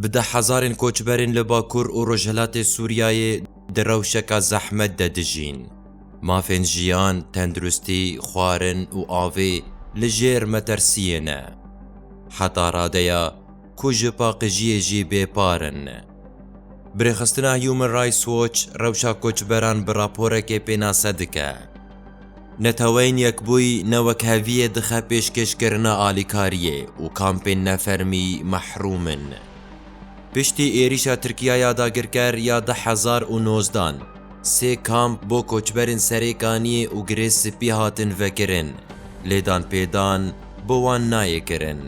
Bi deh hezarên koçberên li Bakur û Rojhilatê Sûriyeyê di rewşeka zehmet de dijîn. Mafên jiyan, tenduristî, xwarin û avê li jêr metersiyê ne. Heta radeya ku ji paqijiyê jî bêpar in. Birêxistina Human Rights Watch rewşa koçberan bi raporekê pênase dike. Neteweyên Yekbûyî ne wek heviyê dixe pêşkêşkirina alîkariyê û kampên nefermî mehrûm in. Piştî êrîşa Tirkiya ya dagirker ya du hezar û nozdan, sê kamp bo koçberên Serêkaniyê û Girê Spî hatin vekirin, lê danpêdan bo wan nayê kirin.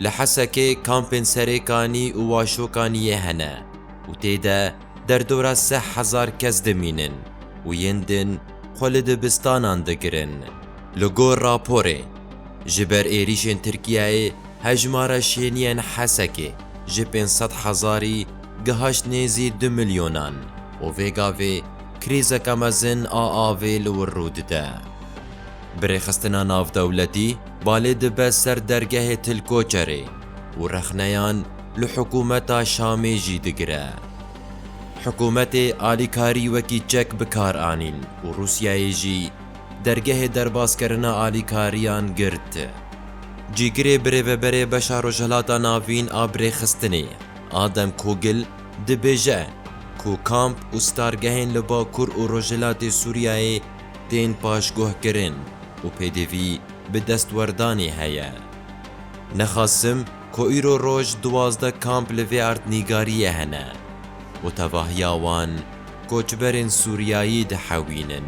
Li Hesekê kampên Serêkanî û Waşokaniyê hene û tê de, Derdora seh hezar kes dimînin û yên din xwe li dibistanan digirin. Li gor raporê, ji ber êrîşên Tirkiyeyê hejmara şêniyên Hesekê ji pênc sed hezarî gihaşt nêzî du milyonan û vê gavê krîzeke mezin a avê li wir rû dide. Bi rêxistina navdewletî balê dibe ser dergehê Tilkoçerê û rexneyan, li hikûmeta Şamê jî digire. Hikûmetê alîkarî wekî çek bi kar anîn û Rûsyayê jî dergehê derbaskirina alîkariyan girt. Cîgirê birêveberê beşa Rojhilata Navîn a Birêxistinê Adem Kogil dibêje ku kamp û stargehên li Bakur û Rojhilatê Sûriyayê tên paşguhkirin û pêdivî bi destwerdanê heye. Nexasim, Ku îro roj duwazdeh kamp li vê erdnîgariyê hene û tevahiya wan koçberên Sûriyayî dihewînin.